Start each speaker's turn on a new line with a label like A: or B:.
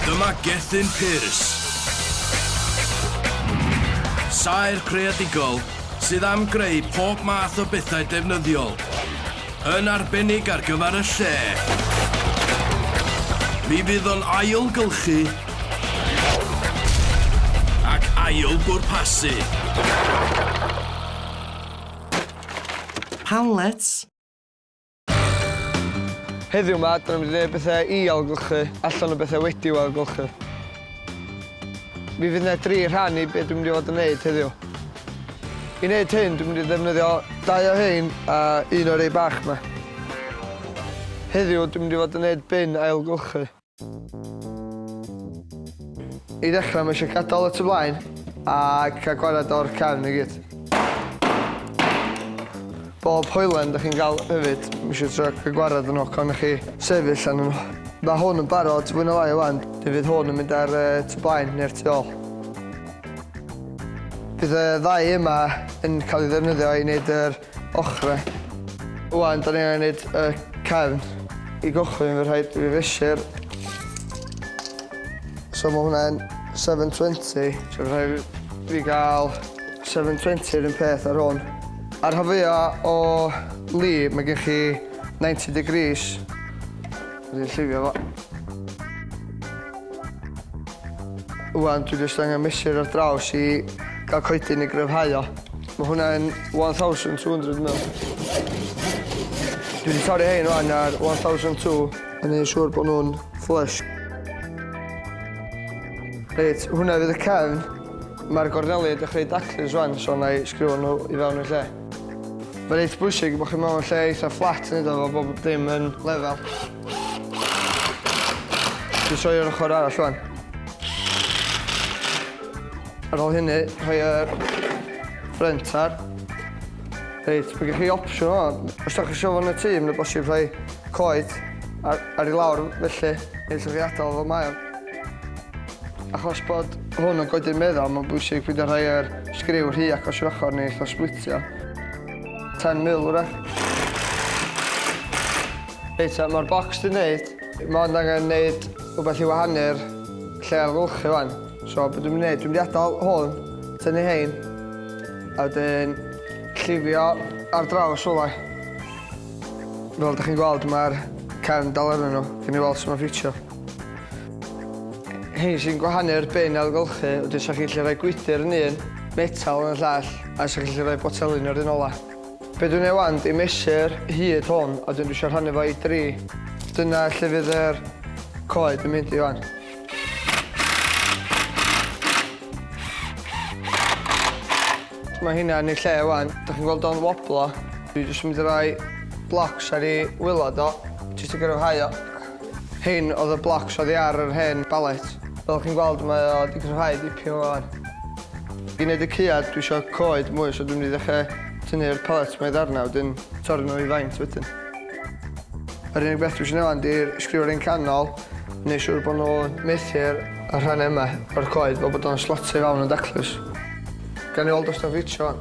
A: Dyma Gethin Pearce. Saer creadigol sydd am greu pob math o bethau defnyddiol, yn arbennig ar gyfer y lle. Mi fydd o'n ailgylchu ac ail bwrpasu. Panlets.
B: Heddiw 'ma, dyna mynd i wneud bethau i ailgylchu allan o bethau wedi'w ailgylchu. Mi fydd yna dri rhan i be dwi'n mynd i fod yn wneud heddiw. I wneud hyn, dwi'n mynd i ddefnyddio dau o hein a un o'r rei bach 'ma. Heddiw, dwi'n mynd i fod yn wneud bin ailgylchu. I ddechrau, mae eisiau gadael y tu blaen a cael gwared o'r cefn i gyd. Bob hoelen da chi'n gael hefyd, mae eisiau trio cael gwared yn ocon i chi sefyll yn nhw. Mae hwn yn barod fwy na lai o wan, fe fydd hwn yn mynd ar uh, tu blaen neu'r tu ôl. Bydd y ddau yma yn cael ei ddefnyddio i wneud yr ochrau. Ŵan, da ni angen neud y cefn. I gychwyn, fe rhaid i fi fesur. So mae hwnna'n 720. So fe rhaid i fi gael 720 yr un peth ar hwn. Ar rhan fwyaf o li, mae gen chi 90 degrees. Dwi 'di llifio fo. Ŵan dwi jyst angen mesur ar draws i ga'l coedyn i gryfhau o. Ma' hwnna yn one thousand two hundred dwi me'wl. Dwi 'di torri rhein ŵan ar one thousand two a neu' siŵr bo' nw'n flush. Reit, hwnna fydd y cefn. Ma'r gorneli yn dechre i daclu rŵan so 'na i sgriwio nw i fewn i'r lle. Mae'n eitha bwysig bod chi mewn lle eitha fflat yn iddo fo bod bob dim yn lefel. Dwi'n soi o'r ochr arall rwan. Ar ôl hynny, rhoi y ffrent ar. Reit, mae gen chi opsiwn o, os da chi eisiau fod yn y tîm, mae'n bosib rhoi coed ar, ar ei lawr felly, neu lle chi adael fo mae o'n. Achos bod hwn yn godi'r meddal, mae'n bwysig peidio rhoi yr sgriw rhy agos i'r ochr neu ella splitio. 10 mil wrach. Reit, mae'r bocs di wneud. Mae ond angen wneud rhywbeth i wahanu'r lle ar lwch i fan. So, beth dwi'n gwneud? Dwi'n mynd i adael hwn, tynnu hein, a wedyn llifio ar draws olau. Fel ydych chi'n gweld, mae'r cefn dal arnyn nhw. Fi'n ei weld sy'n ffitio. Rhein sy'n gwahanu'r bin ailgylchu wedyn 'sa chi'n gallu rhoi gwydr yn un, metal yn y llall a 'sa chi'n gallu rhoi botelyn yr un ola. Be' dwi'n neud ŵan 'di mesur hyd hwn a wedyn dwi isio rhannu fo i dri. Dyna lle fydd yr coed yn mynd i ŵan. Mae hynna yn ei lle ŵan. Dach chi'n gweld o'n woblo? Dwi jyst yn mynd i roi blocs ar ei wilod o jyst i gryfhau o. Hyn oedd y blocs oddi ar yr hen ballet. Fel chi'n gweld mae o wedi cryfhau dipyn wan. I wneud y cyad dwi isio coed mwy so dwi'n mynd i ddechrau tynnu'r pallets mae ddarnau wedyn torri nhw i faint wedyn. Yr unig beth dwi isio neud wan di'r sgriw rheng canol neu siŵr bod nhw'n methu'r rhannau yma o'r coed fel bod o'n slotio i fawn yn daclus. Gawn ni weld os 'di o'n ffitio wan.